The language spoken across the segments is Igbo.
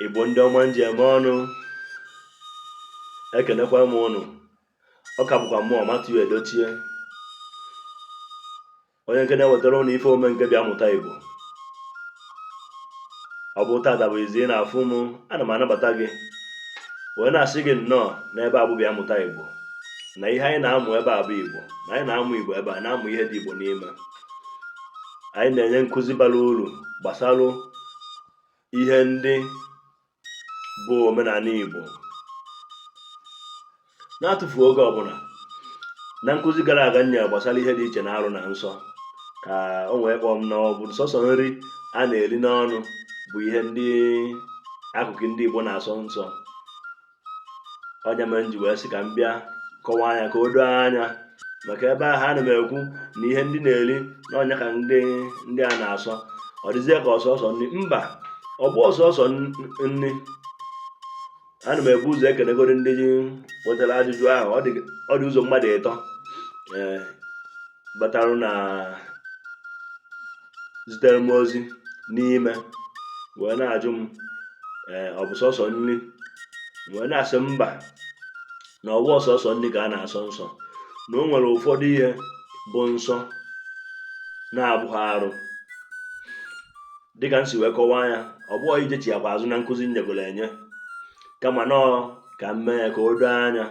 Igbo ndị ọma m ji eme ọnụ ekenekwa m ụnụ ọ ka bụkwa mụ Matthew Edochie onye nke na-ewetara ụnụ ife ome nke bịa mụta Igbo ọ bụ tata bụ izizi ị na-afụ m ana m anabata gị wee na-asị gị nnọọ n'ebe a bụ bịa mụta Igbo na ihe anyị na-amụ ebe a bụ Igbo na anyị na-amụ Igbo ebe a na-amụ ihe dị Igbo n'ime anyị na-enye nkụzi bara uru gbasara ihe ndị bụ omenala Igbo n'atụfughị oge ọ bụ na na nkụzi gara aga nye gbasara ihe dị iche na arụ na nsọ ka o wee kpọọ m na ọ bụ sọsọ nri a na-eri n'ọnụ bụ ihe ndị akụkụ ndị Igbo na-asọ nsọ ọ nya mere m ji wee sị ka m bịa kọwaa nya ka o doo anya maka ebe ahụ ana m ekwu na ihe ndị na-eri na ọ nya ka ndị ndị a na-asọ ọ dịzie ka ọ sọsọ nri mba ọ bụghị sọsọ nri ana m ebu ụzọ ekelegoro ndị butara ajụjụ ahụ ọ dị ụzọ mmadụ ịtọ ee eh, batalụ na zitere m ozi n'ime wee na-ajụ m ee ọ bụ sọsọ nri wee na-asị mba na ọ bụghị sọsọ nri ka a na-asọ nsọ na o nwere ụfọdụ ihe bụ nsọ na-abụghị arụ dịka m si wee kọwaa ya ọ bụghị ijechiakwa azụ na nkụzi m nyegoro enye kama na ọ ka m mee ya ka o doo anya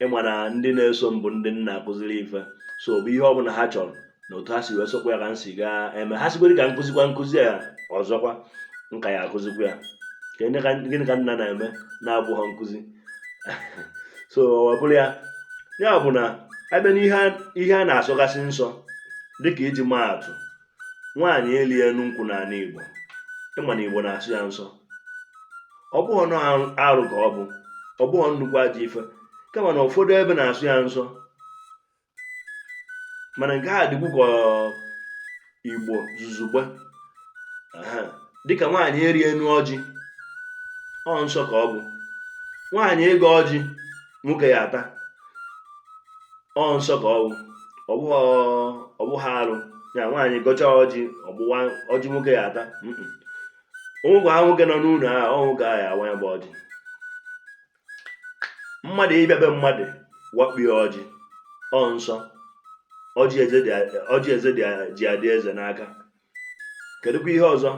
ị ma na ndị na-eso m bụ ndị m na-akụziri ife so bụ ihe ọbụla ha chọrọ na otu ha si wee chọkwa ya ka m si gaa eme ha sịkwa ka m kụzikwaa nkụzi ya ọzọkwa m ka ya-akụzikwa ya gịnị ka m na-eme na-abụha nkụzi so ọ bụrụ ya ya bụ na a bịa n'ihe a na-asọgasị nsọ dịka iji maa atụ nwaanyị ịlị enu nkwụ n'ala Igbo ị ma na Igbo na-asọ ya nsọ ọ bụghị na ọ arụ ka ọ bụ ọ bụghị nnukwu ajọ ife kama na ụfọdụ ebe na-asọ ya nsọ mana nke a dịkwu ka Igbo zuzugbe dịka nwaanyị ịrị enu ọjị ọ nsọ ka ọ bụ nwaanyị ịgọ ọjị nwoke ya ata ọ nsọ ka ọ bụ ọ bụha arụ ya nwaanyị gọcha ọjị o gbuwaa ọjị nwoke ya ata o nwekwaha nwoke nọ n'ụlọ a nwoke ya awa ya bụ ọjị mmadụ ịbịa be mmadụ wakpie ọjị ọ nsọ ọjị eze ji adị eze n'aka kedụkwa ihe ọzọ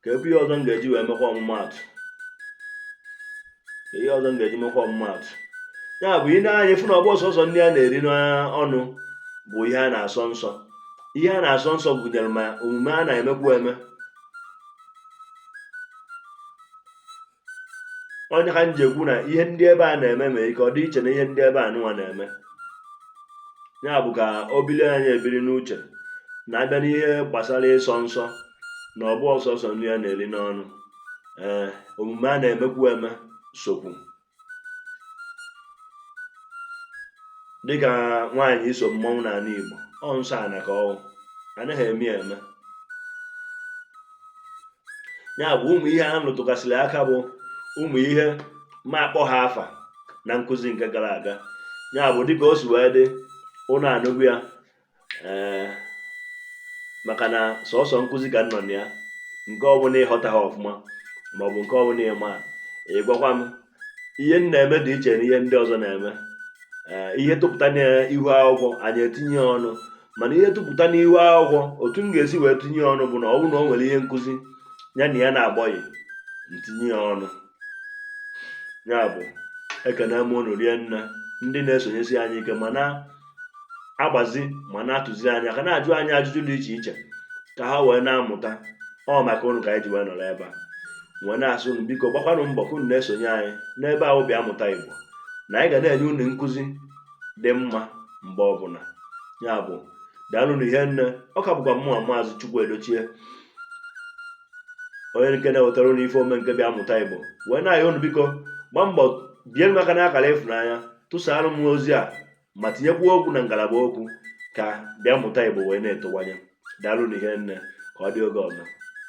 kedụkwa ihe ọzọ m ga-eji wee mekwa ọmụmaatụ ihe ọzọ m ga-eji mekwa ọmụmaatụ ya bụ i nee anya fụ na ọ bụhọ sọsọ nri a na-eri n'ọnụ bụ ihe a na-asọ nsọ ihe a na-asọ nsọ gụnyere ma omume a na-emekwu eme ọ ya ka m ji ekwu na ihe ndị ebe a na-eme nwe ike ọ dị iche na ihe ndị ebe a nụwa na-eme ya bụ ka o biri anyị ebiri n'uche na a bịa n'ihe gbasara ịsọ nsọ na ọ bụhọ sọsọ nri a na-eri n'ọnụ ee eh, omume a na-emekwu eme sokwu dịka nwaanyị iso mmọnwụ n'ala Igbo ọ nsọ ana ka ọ bụ anaghị eme ya eme ya bụ ụmụ ihe a m rụtụgasịrị aka bụ ụmụ ihe m akpọha afa na nkụzi nke gara aga ya bụ dịka o si wee dị unu anụgo ya ee eh, maka na sọsọ nkụzi ka m nọ na ya nke ọbụla ị ghọtaha ọfụma maọbụ nke ọbụla ị ma ị gwakwa m ihe m na-eme dị iche na ihe ndị ọzọ na-eme eh, ihe tụpụta n'ihu akwụkwọ anyị etinye ọnụ mana ihe tụpụta n'ihu akwụkwọ otu m ga-esi wee tinye ọnụ bụ na ọ bụrụ na o nwere ihe nkụzi ya na ya na-agbọghị m tinye ya ọnụ ya bụ ekene m unu rie nne ndị na-esonyesi anyị ike mana agbazi ma na-atụzi anya ka a na-ajụ anyị ajụjụ dị iche iche ka ha wee na-amụta ọ maka unu ka anyị ji wee nọrọ ebe a wee na-asị unu biko gbakwanụ mbọ ka unu na-esonye anyị n'ebe ahụ bịa mụta Igbo na anyị ga na-enye unu nkụzi dị mma mgbe ọbụla ya bụ daalụnụ hie nne ọ ka bụkwa mụwa maazị Chukwu Edochie onye nke na-ewetara unu ife omume nke bịa mụta Igbo wee na-ayọ unu biko gbaa mbọ bie m aka n'akara ịfụnanya tụsara m ozi a ma tinyekwuo okwu na ngalaba okwu ka bịa mụta Igbo wee na-etowanye. Daalụnụ hie nne. Ka ọ dị oge ọzọ.